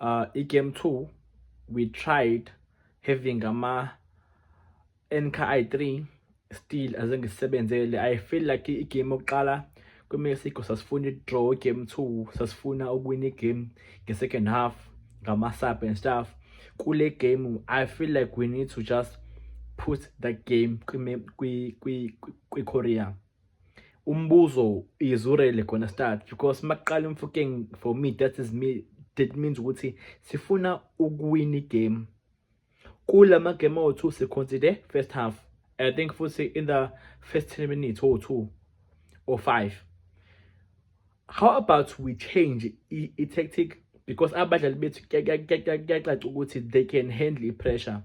uh, i-game two we tried having ama NKI i 3 still azengisebenzele i feel like i-game yokuqala kwimexico sasifuna i-draw game two sasifuna ukuwina i-game nge-second half ngama-sub and stuff kule game i feel like we need to just put that game kwi-korea umbuzo is urele gonna start because makuqala umfukeng for me that is me that means ukuthi sifuna ukuwina igame kula magame awu-two siconsider first half i think futhi in the first 10 minutes or two or five how about we change i-tactic because abadlali bethu kuyacaca ukuthi they can handle i-pressure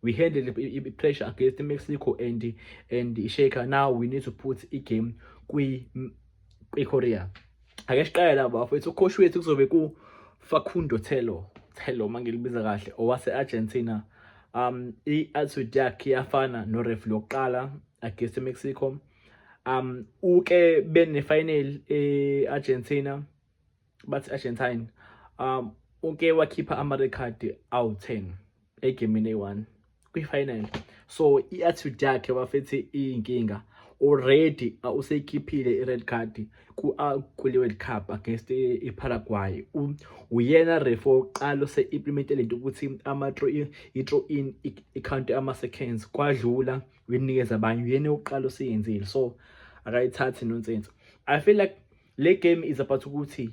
we handle the pressure against Mexico and and Sheikha now we need to put i game kwi kwi Korea ake siqale la bafethu ucoach wethu kuzobe ku Facundo Telo Telo mangilibiza kahle owase Argentina um i attitude yakhe yafana no ref lokuqala against Mexico um uke bene final e Argentina bathi Argentine um uke wakhipha ama record awu 10 egamini eyi-1 kwi-final so i-attitude yakhe bafethi iyinkinga already uh, useyikhiphile i-red card kule-world cup against i-paraguay uyena refa wokuqala ose-implemente le nto ukuthi i-tro in ikhawunti ama-seconds kwadlula uyinikeza abanye uyena wokuqala oseyenzile so akayithathi nonsense i feel like Le game is about ukuthi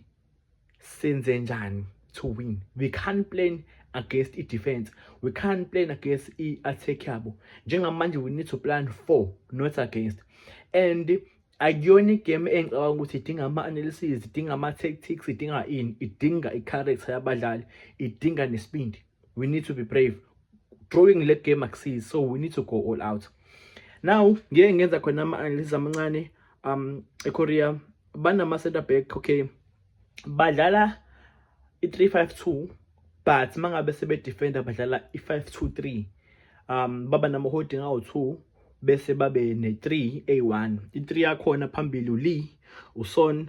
senze njani to win. We can't plan against i-defense. We can't plan against i-attack yabo. Njengamanje we need to plan for, not against. And akuyona igame engicabanga ukuthi idinga ama-analysis idinga ama-tactics idinga ini idinga i-character yabadlali idinga nesibindi we need to be brave drawing le game akusizi so we need to go all out now ngeke ngenza khona ama-analysis amancane um ekorea banama-center back okay badlala i-352 but mangabe sebedefenda badlala i-523 um baba nama-holding awu-2 bese babe ne-3 a1 i-3 yakhona phambili ulee uson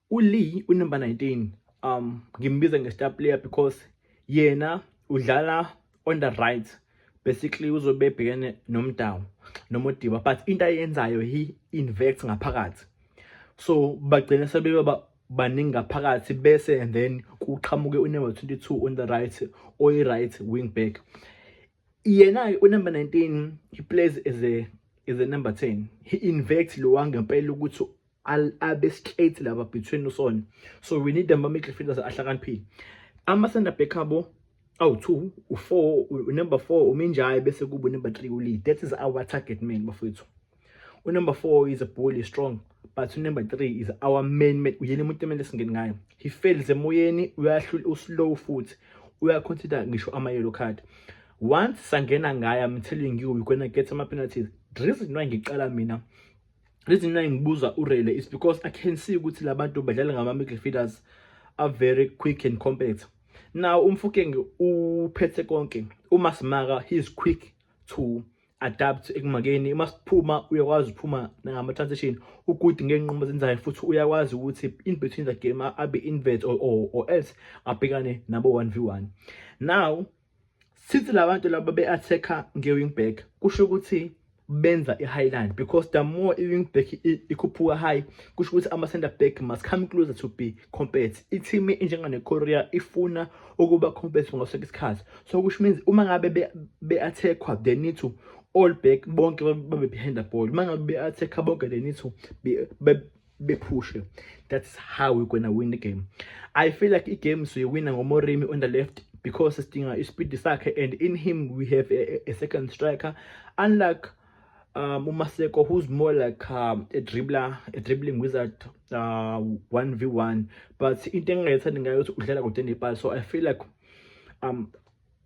ULee unumber 19 um ngimbiza nge-star player because yena udlala on the right basically uzobe ebhekene nomdawu nomodiba but into ayenzayo he invects ngaphakathi so bagcina sebeba baningi ngaphakathi bese and then kuqhamuke unumber 22 on the right oyi-right wing back yena-ke unumber 19 he plays as a is a number 10 he invects lo wangempela ukuthi al abe straight laba between usona so we need them amidle fitness ahlakaniphile ama center back abo awu 2 u4 number 4 uminjayi bese kubo number 3 uli that is our target man bafethu u number 4 is a bully strong but u number 3 is our main man uyena umuntu emele singeni ngayo he fails emoyeni uyahlula uslow futhi uyaconsider ngisho ama yellow card once sangena ngaye i'm telling you we're gonna get some penalties the reason why ngiqala mina reason why ngibuza urele is because i can see ukuthi labantu badlala ngama midfielders are very quick and compact now umfukenge uphethe konke uma simaka he is quick to adapt ekumakeni uma siphuma uyakwazi ukuphuma ngama transition ukuthi ngenqumo zenzayo futhi uyakwazi ukuthi in between the game abe invert or, or, or else abhekane nabo 1v1 now sithi labantu laba be attacker nge wing back kusho ukuthi benza i-highline because the more i-wing back ikhuphuka high kusho ukuthi ama-center back must come closer to be compete i-team injenganekorea ifuna ukuba compete ngaso isikhathi so kusho means uma ngabe be-attackwa they need to all back bonke babe behind the ball uma ngabe be-attackwa bonke they need to be, be bephushe that's how we're gonna win the game i feel like igame siyoyina ngomorimi on the left because sidinga ispeed sakhe and in him we have a, a second striker unlike um, umaseko who's more like um, a dribbler a dribbling wizard uh, 1v1 but into engingayethandi ngayo ukuthi udlala kude nepali so i feel like um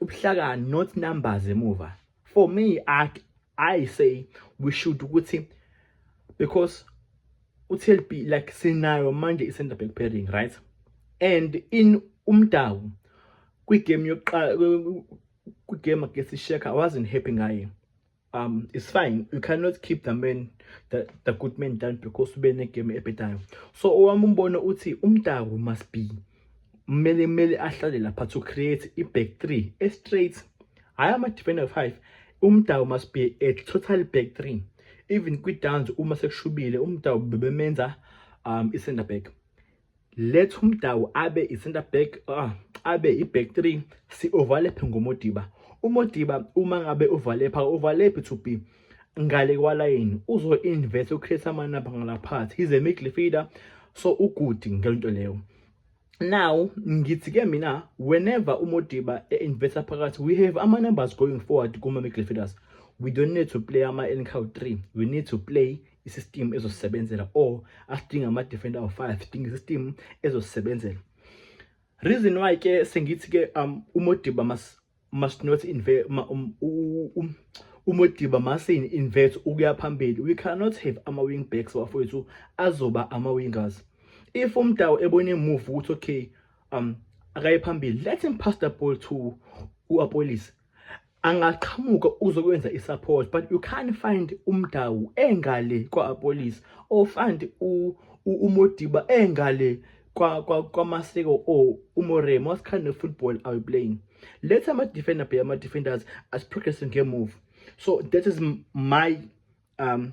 ubuhlakani not numbers emuva for me i i say we should ukuthi because uTLB like sinayo manje i-center back pairing right and in umdawu kwigame yokuqala kwigame against isheka wasn't happy ngaye um it's fine you cannot keep the man the, the good man down because ube negame ebhedayo so owami umbono uthi umdawu must be kumele kumele ahlale lapha to create i-back three e-straight hhayi ama-defender five umdawu must be a total back three even kwi-downs uma sekushubile umdawu bebemenza um i-center back letha umdawu abe i-center back uh, abe i-back three si-overlephe ngomodiba umodiba uma ngabe uvalepha uvalephi to be ngale kwalayini uzo-invest ucreate amanamba ngalaphathi he's a midfielder so ugudi ngelonto leyo now ngithi ke mina whenever umodiba e-investa phakathi we have ama-numbers going forward kuma-midfielders we don't need to play ama-ncow three we need to play isystem ezosebenzela or asidinga ama defender of 5 sidinga isystem ezosebenzela reason why ke sengithi ke um umodiba mas must not invert um, um, umodiba masin invert ukuya phambili we cannot have ama wing backs bafowethu azoba ama wingers if umdawu ebone move ukuthi okay um akaye phambili let him pass the ball to uApolis angaqhamuka uzokwenza i-support but you can't find umdawu engale kwa-apolice or find umodiba engale kwamasiko or umoremo what kind of football are you playing let ama-defender be ama-defenders as progressing ngemove so that is my um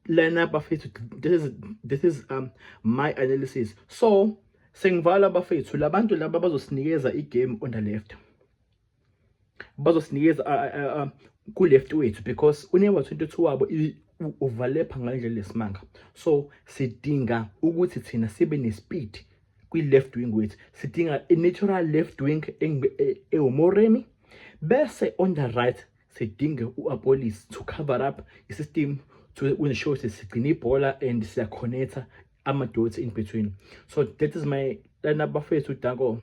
lena bafethu this is, this is um, my analysis so sengivala bafethu labantu laba bazosinikeza i-game on the left bazosinikeza kuleft wethu because unewa 22 wabo uvalepha ngalendlela lesimanga so sidinga ukuthi thina sibe nespeed kwi-left wing wethu sidinga i-natural left wing ewumoremi bese on the right sidinge u-apolis to cover up i-system to ensure ukuthi sigcine ibhola and siyakhonetha ama-dots in between so that is my lana bafethu danko